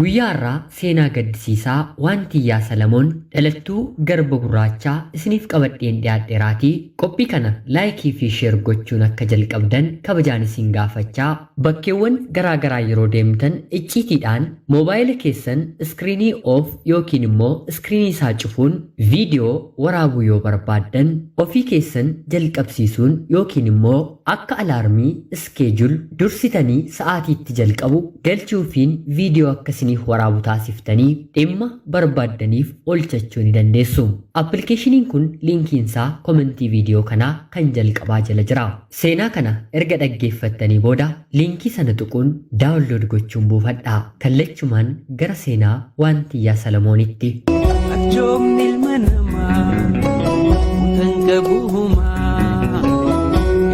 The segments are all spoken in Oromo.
Guyyaa har'aa seenaa gaddisiisaa waan Tiyyaa Salamoon dhalattuu Garba Gurraachaa isiniif qabadheen dhiyaadheraatii qophii kana like fi share gochuun akka jalqabdan kabajaan isin gaafachaa, bakkeewwan garaa garaa yeroo deemtan icciitiidhaan moobaayila keessan screen off yookiin immoo screen isaa cufuun video waraabuu yoo barbaaddan ofii keessan jalqabsiisuun yookiin immoo. Akka alarmii, schedule, dursitanii sa'aatii itti jalqabu galchuufiin viidiyoo akka isiniif waraabu taasiftanii dhimma barbaaddaniif oolchachuu ni dandeessu. Appilikeeshiniin kun liinkiinsaa komentii viidiyoo kanaa kan jalqabaa jala jira. Seenaa kana erga dhaggeeffattanii booda liinkii sana tuquun daawunlood gochuun buufadhaa. Kallachumaan gara seenaa Waantiyyaa Salamoonitti. Arjoomni ilma namaa utan qabu humaa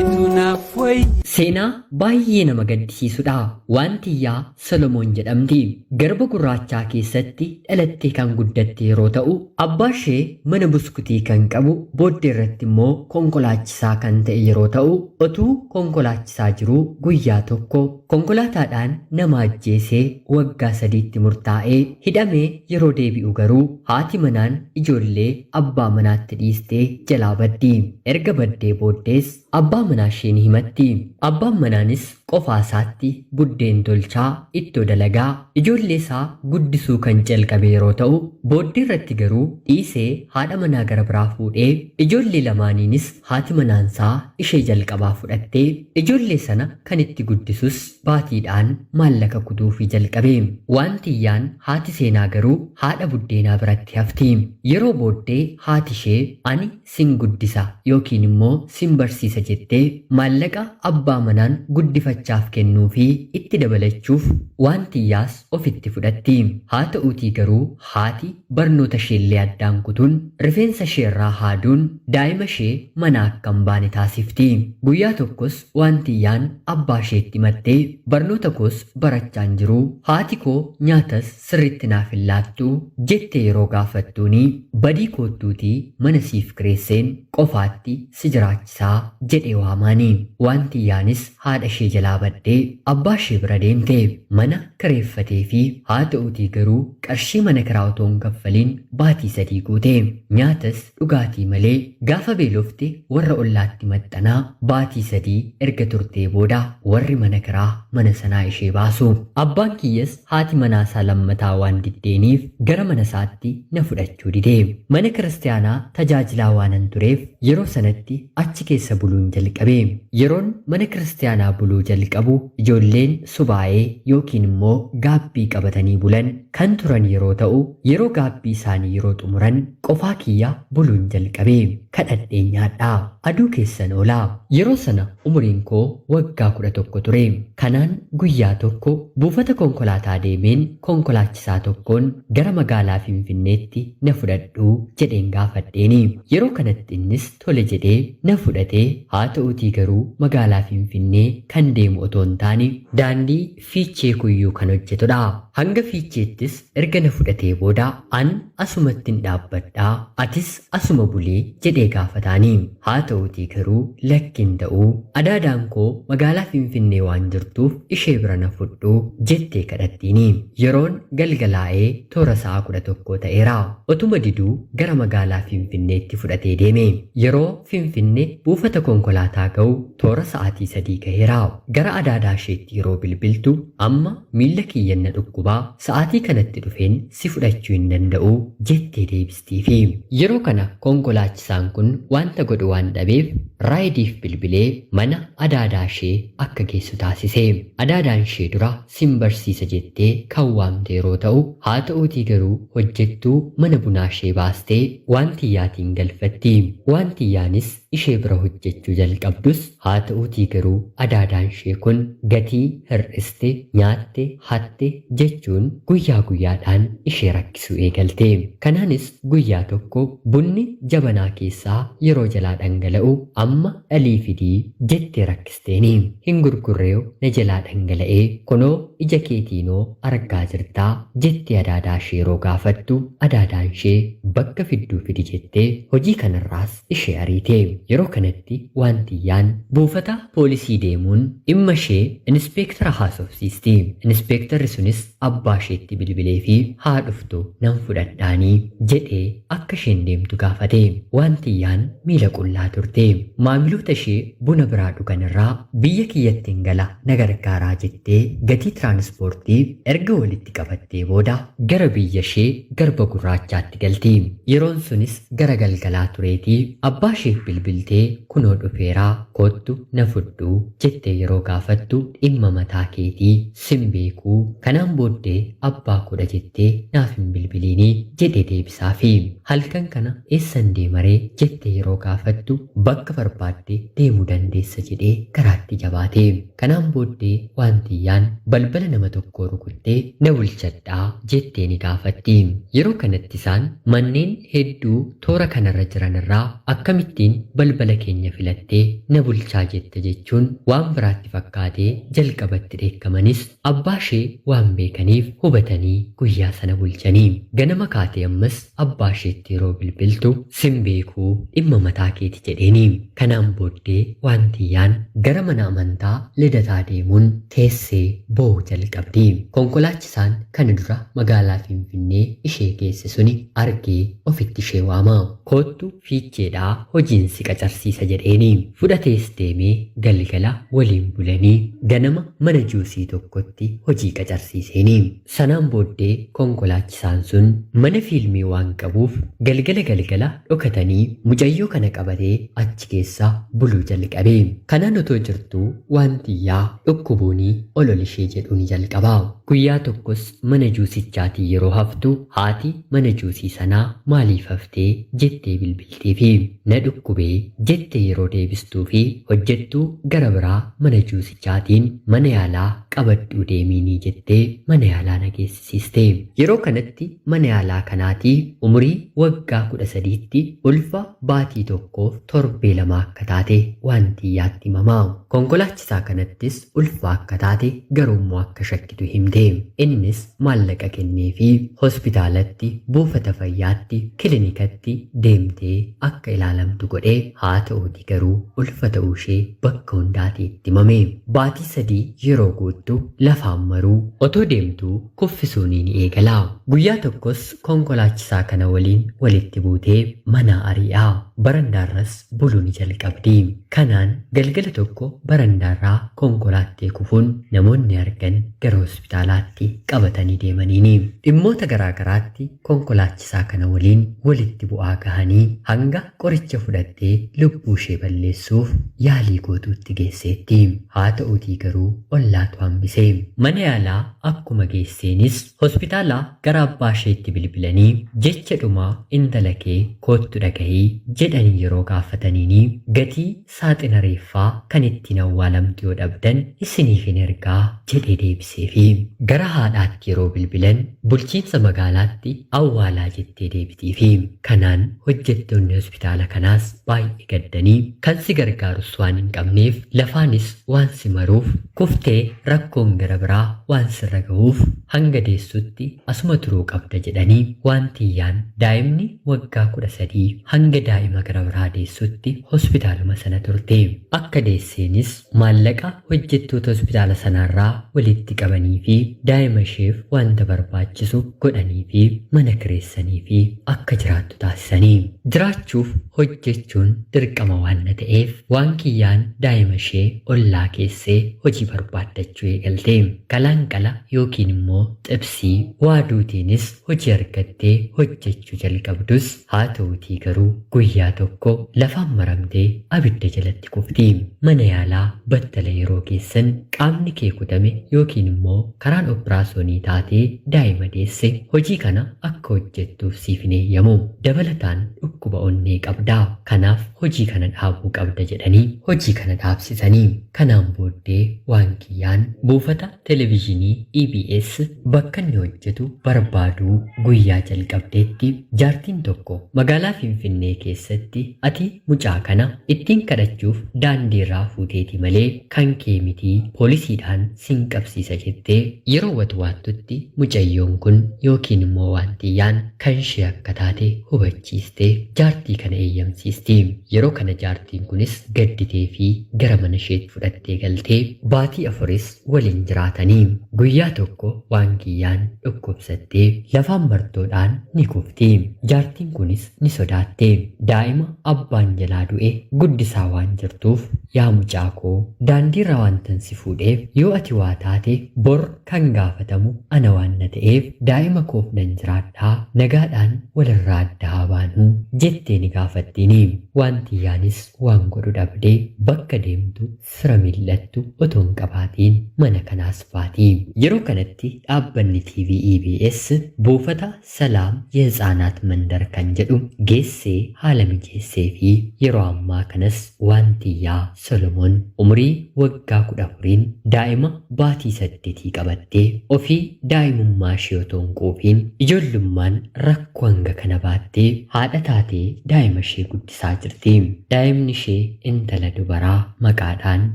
etu naaf wayya. Seenaa baay'ee nama gaddisiisudha. Waantiyyaa Solomoon jedhamti. Garba gurraachaa keessatti dhalattee kan guddatte yeroo ta'u, abbaa ishee mana buskutii kan qabu, booddee irratti immoo konkolaachisaa kan ta'e yeroo ta'u, otuu konkolaachisaa jiruu guyyaa tokko. Konkolaataadhaan nama ajjeesee waggaa sadiitti murtaa'ee hidhamee yeroo deebi'u garuu haati manaan ijoollee abbaa manaatti dhiistee jalaa baddi. Erga baddee booddees abbaa manaashee ni himatti. Abbaan manaanis qofaasaatti buddeen tolchaa, ittoo dalagaa, ijoolleesaa guddisuu kan calqabe yeroo ta'u, booddeerratti garuu dhiisee haadha manaa gara biraa fuudhee ijoollee lamaaniinis Haati manaansaa ishee jalqabaa fudhatte. Ijoollee sana kan itti guddisus baatiidhaan maallaqa kutuufii jalqabe. Waan Tiyyaan haati Seenaa garuu haadha buddeenaa biratti hafti. Yeroo booddee haatishee ani sin guddisa yookiin immoo sin barsiisa jettee maallaqa abbaa manaan guddifachaaf kennuufii itti dabalachuuf Waan Tiyyaas ofitti fudhatti. Haata'uutii garuu haati barnoota isheellee addaan kutuun, rifeensa isheerraa haaduun daa'ima ishee manaa akka hin baane taasifti. Guyyaa tokkos Waantiyyaan abbaa isheetti himatte, Barnoota koos barachaa hin jiru, haati koo nyaatas sirriitti naaf hin laattu, jettee yeroo gaafattuuni, Badii koottuutii mana siif kireesseen qofaatti si jiraachisaa, jedhee waamaani. Waantiyyaanis haadha ishee jalaa baddee abbaa ishee bira deemte. Mana kireeffateefii, haa ta'uutii garuu qarshii mana kiraa otoo hin kaffaliin baatii sadii guute. Nyaatas dhugaatii malee gaafa beelofte warra ollaatti maxxanaa baatii sadii erga turtee booda warri mana kiraa mana sanaa ishee baasu. Abbaan kiyyas Haati manaasaa lammataa waan diddeeniif gara manasaatti na fudhachuu dide. Mana Kiristiyaanaa tajaajilaa waanan tureef yeroo sanatti achi keessa buluun jalqabe. Yeroon mana Kiristiyaanaa buluu jalqabu ijoolleen subaa'ee yookiin immoo gaabbii qabatanii bulan kan turan yeroo ta'u, yeroo gaabbii isaanii yeroo xumuran qofaa kiyya buluun jalqabe. kadhadheen nyaadha. Aduu keessan oola. Yeroo sana umuriin koo waggaa 11 ture. Kanaan guyyaa tokko buufata konkolaataa deemeen konkolaachisaa tokkoon gara magaalaa Finfinneetti na fudhadhuu jedheen gaafadheeni. Yeroo kanatti innis tole jedhee na fudhate. Haa ta'uutii garuu magaalaa Finfinnee kan deemu otoo hin taane. Daandii fiichee kuyyuu kan hojjetu dha. Hanga fiicheettis erga na fudhatee booda an asumattin dhaabbadha atis asuma buli jedhee gaafataani. Haa ta'uutii garuu lakki hin ta'u adaadaan koo magaalaa Finfinnee waan jirtuuf ishee bira na fudhu jettee kadhattiini. Yeroon galgalaa'e toora sa'a kudha tokkoo ta'eera. Otuma diduu gara magaalaa Finfinneetti fudhatee deeme. Yeroo Finfinne buufata konkolaataa ga'u Toora sa'aatii sadii gaheera. Gara adaadaa isheetti yeroo bilbiltu, Amma miilla kiyyan na dhukkuba, sa'aatii kanatti dhufeen si fudhachuu hin danda'u, jettee deebistiifi. Yeroo kana konkolaachisaan kun wanta godhu waan dhabeef, Raayidiif bilbilee mana adaadaa ishee akka geessu taasise. Adaadaan ishee dura sin barsiisa jettee kan waamte yeroo ta'u, haa ta'uutii garuu hojjettuu mana bunaa ishee baastee Waantiyyaatiin galfatti. Waantiyyaanis ishee bira hojjechuu jalqabdus haa ta'uutii garuu adaadaanshee kun gatii hir'iste, nyaatte, hatte jechuun guyyaa guyyaadhaan ishee rakkisuu eegalte. Kanaanis guyyaa tokko bunni jabanaa keessaa yeroo jalaa dhangala'u amma dhalii fidi jettee rakkisteeni. Hin gurgurreew na jalaa dhangala'ee kunoo ija keetiinoo argaa jirtaa jettee adaadaashee yeroo gaafattu adaadaanshee bakka fidduu fidi jettee hojii kanarraas ishee ariite. Yeroo kanatti waantiyyaan buufata poolisii deemuun dhimma ishee inispeektara haasofsiisti. Inispeektarri sunis abbaa isheetti bilbileefii haa dhuftu nan fudhadhaanii jedhee akka isheen deemtu gaafate. Waantiyyaan miila qullaa turte. Maamiloota ishee buna biraa dhugan irraa biyya kiyyattin gala na gargaaraa jettee gatii tiraanispoortii erga walitti qabattee booda, Gara biyyashee Garba Gurraachaatti galte. Yeroon sunis gara galgalaa tureetii. Abbaasheef bilbiltee kunoo dhufeera koottu na fudhu jettee yeroo gaafattu dhimma mataa keetii sin beeku kanaan booddee abbaa koodha jettee naaf hin bilbiliini jedhee deebisaafi. Halkan kana eessan deemaree jettee yeroo gaafattu bakka barbaadde deemuu dandeessa jedhee garaatti jabaate. Kanaan booddee waantiyyaan balbala nama tokkoo rukuttee na bulchadhaa jettee ni gaafatti. Yeroo kanatti isaan manneen hedduu toora kanarra jiran irraa akkamittiin balbala keenya filattee na bulchaa jetta jechuun waan biraatti fakkaatee jalqaba itti dheekkamanis abbaashee waan beekaniif hubatanii guyyaa sana bulchanii. Ganama kaatee ammas Abbaa isheetti yeroo bilbiltu sin beeku dhimma mataa keeti jedheeni. Kanaan booddee Waantiyyaan gara mana amantaa Lidataa deemuun teessee boo'uu jalqabdi. Konkolaachisaan kana dura magaalaa Finfinnee ishee geesse suni argee ofitti ishee waama. Koottu Fiicheedhaa hojiin si qacarsiisa jedheeni. Fudhatees deeme galgala waliin bulanii ganama mana juusii tokkotti hojii qacarsiiseeni. Sanaan booddee konkolaachisaan sun mana fiilmii waan qabuuf galgala galgala dhokatanii mucayyoo kana qabatee achi keessa buluu jalqabe. Kanaan otoo jirtuu waan tiyyaa dhukkubuuni ol ol ishee jedhuu ni jalqaba. Guyyaa tokkos mana juusichaatii yeroo haftu haati mana juusii sanaa maaliif haftee jettee bilbilteefi. Na dhukkubee jettee yeroo deebistuufi hojjettuu gara biraa mana juusii. jaatiin mana yaalaa qabadhuu deemiinii jettee mana yaalaa na geessisiiste. Yeroo kanatti mana yaalaa kanaatii umurii waggaa 13tti ulfa baatii tokkoof torbee lama akka taate waanti iyyaatti himama. Konkolaachisaa kanattis ulfa akka taate garuummoo akka Giduu himte. Innis maallaqa kenneefii hospitaalatti, buufata fayyaatti, kilinikatti deemtee akka ilaalamtu godhe. Haa ta'uutii garuu ulfa ta'uushee bakka hundaatii itti himame. Baatii sadii yeroo guuttu lafaan maruu. Otoo deemtuu kuffisuunii ni eegala. Guyyaa tokkos konkolaachisaa kana waliin walitti buutee manaa ari'a. Barandaarras buluu ni jalqabdi. Kanaan galgala tokko barandaarraa konkolaattee kufuun namoonni argan gara hospitaalaatti qabatanii deemaniini. Dhimmoota garaa garaatti konkolaachisaa kana waliin walitti bu'aa gahanii hanga qoricha fudhattee lubbuushee balleessuuf yaalii gootuutti geesseetti. Haata'uutii garuu ollaatu hambise. Mana yaalaa akkuma geesseenis Hospitaalaa gara abbaa isheetti bilbilanii jecha dhumaa intala kee koottu dhagahi jedhanii yeroo gaafataniini gatii saaxina reeffaa kan ittiin awwaalamtu yoo dhabdan isiniifin ergaa jedhee deebiseefi. Gara haadhaatti yeroo bilbilan bulchiinsa magaalaatti awwaalaa jettee deebitiifi. Kanaan hojjettoonni hospitaala kanaas baay'ee gaddanii kan si gargaarus waan hin qabneef lafaanis waan si maruuf kuftee rakkoon gara biraa waan sirra gahuuf hanga deessutti asuma turuu qabda jedhanii waantiyyaan daa'imni waggaa 13 hanga daa'ima gara biraa deessutti hospitaaluma sana turte. Akka deesseenis maallaqa hojjettoota hospitaala sanaarraa walitti qabaniifii daa'ima isheef waanta barbaachisu godhaniifii mana kireessaniifii akka jiraattu jiraattu taasisanii. Jiraachuuf hojjechuun dirqama waanna ta'eef Waankiyyaan daa'imashee ollaa keessee hojii barbaaddachuu eegalte. Qalaanqala yookiin immoo xibsii waaduutiinis hojii argattee hojjechuu jalqabdus, haata'uutii garuu guyyaa tokko lafaan maramtee abidda jalatti itti kufti. Mana yaalaa battala yeroo geessan qaamni kee kutame yookiin immoo karaan opiraasoonii taatee daa'ima deesse hojii kana akka hojjettuuf siif hin eeyyamu. Dabalataan dhukkuba onnee qabda. Kanaaf hojii kana dhaabuu qabda jedhanii hojii kana dhaabsisani. Kanaan booddee waan kiyyaan buufata. Televizhinii EBS bakka inni hojjetu barbaaduu guyyaa jalqabdeetti jaartiin tokko magaalaa Finfinnee keessatti ati mucaa kana ittiin kadhachuuf daandiirraa fuuteeti malee kan kee miti poolisiidhaan sin qabsiisa jettee yeroo watwaattutti mucayyoon kun yookiin immoo waantiyyaan kanshee akka taate hubachuu ciistee jaartii kana eeyyamsiiste. Yeroo kana jaartiin kunis gadditee fi gara mana isheetti fudhattee galtee baatii afuris waliin jiraatani. Guyyaa tokko Waangiyyaan dhukkubsattee lafaan martoodhaan ni kufti. Jaartiin kunis ni sodaatte. Daa'ima abbaan jalaa du'e guddisaa waan jirtuuf yaa mucaa koo daandiirraa waantan si fuudheef yoo ati waa taate bor Kan gaafatamu ana waan na ta'eef daa'ima koof nan jiraadha, nagaadhaan walirraa adda haa baanu, jettee ni gaafattiini. Waantiyyaanis waan godhu dhabde bakka deemtu fira mil'attu otoo hin qabaatiin mana kanaas baati. Yeroo kanatti dhaabbanni TV EBS buufata Salaam Yehitsaanaat Mandar kan jedhu geessee haala mijeesseefii. Yeroo ammaa kanas Waantiyyaa Solomoon umurii waggaa 14n daa'ima baatii saddetii qabattee ofii daa'imummaashee otoo hin quufiin ijoollummaan rakkoo hanga kana baattee haadha taatee daa'imashee guddisaa jirti. Daa'imnishee intala dubaraa maqaadhaan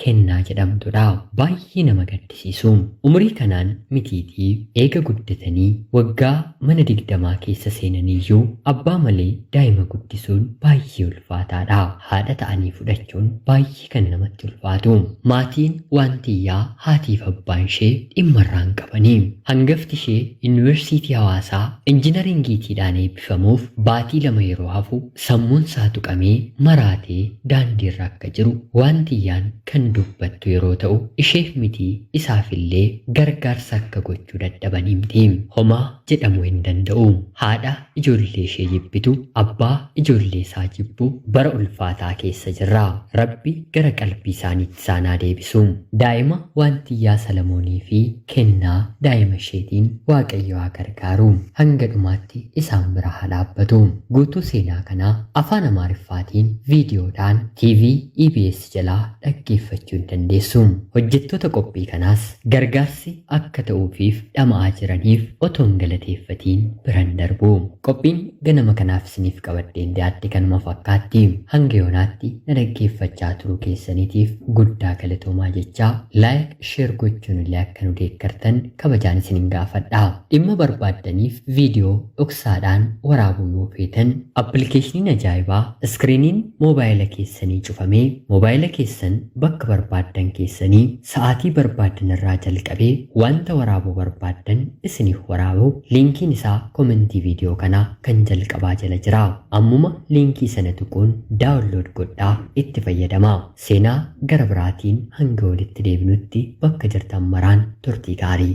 Kennaa jedhamtudha. Baay'ee nama gaddisiisa. barsiisu. Umurii kanaan mitiitii eega guddatanii waggaa mana digdamaa keessa seenaniyyuu abbaa malee daa'ima guddisuun baay'ee ulfaataadha. Haadha ta'anii fudhachuun baay'ee kan namatti ulfaatu. Maatiin Waantiyyaa haatiif abbaanshee dhimma irraa hin qabani. Hangaftishee Yunivarsiitii Hawaasaa Injinariingiitiidhaan eebbifamuuf baatii lama yeroo hafu, Sammuun isaa tuqamee, maraatee daandii irra akka jiru waantiyyaan kan dubbattu yeroo ta'u, isheef miti isaaf illee gargaarsa akka gochuu dadhaban himti. Homaa jedhamuu hin danda'u. Haadha ijoollee ishee jibbitu, abbaa ijoollee isaa jibbu bara ulfaataa keessa jirra. Rabbi gara qalbii isaaniitti. isaan haa deebisu. Daa'ima waantiyyaa Salamoonii fi kennaa daa'ima isheetiin Waaqayyo haa gargaaru. Hanga dhumaatti isaan bira haa dhaabbatu. Guutuu seenaa kanaa Afaan Amaariffaatiin viidiyoodhaan TV EBS jalaa dhaggeeffachuu ni dandeessu. Hojjettoota qophii kanaas gargaarsi akka ta'uufiif dhama'aa jiraniif otoon galateeffatiin biran darbu. Qophiin ganama kanaaf isiniif qabadheen dhiyaadhe kanuma fakkaatti. Hanga yoonaatti na dhaggeeffachaa turuu keessaniitiif guddaa galatoomaa jechaa, like, share gochuun illee akka nu deeggartan kabajaan isinin gaafadha. Dhimma barbaaddaniif video dhoksaadhaan waraabuu yoo feetan, Appilikeeshiniin ajaa'ibaa iskiriiniin moobaayila keessanii cufamee moobaayila keessan bakka barbaaddan keessanii Sa'aatii barbaaddan irraa jalqabee wanta waraabuu barbaaddan isiniif waraabu. Liinkiin isaa komentii viidiyoo kanaa kan jalqabaa jala jira. Ammuma liinkii sana tuquun download godhaa itti fayyadamaa. Seenaa gara biraatiin hanga walitti deebinutti bakka jirtan maraan turtii gaarii.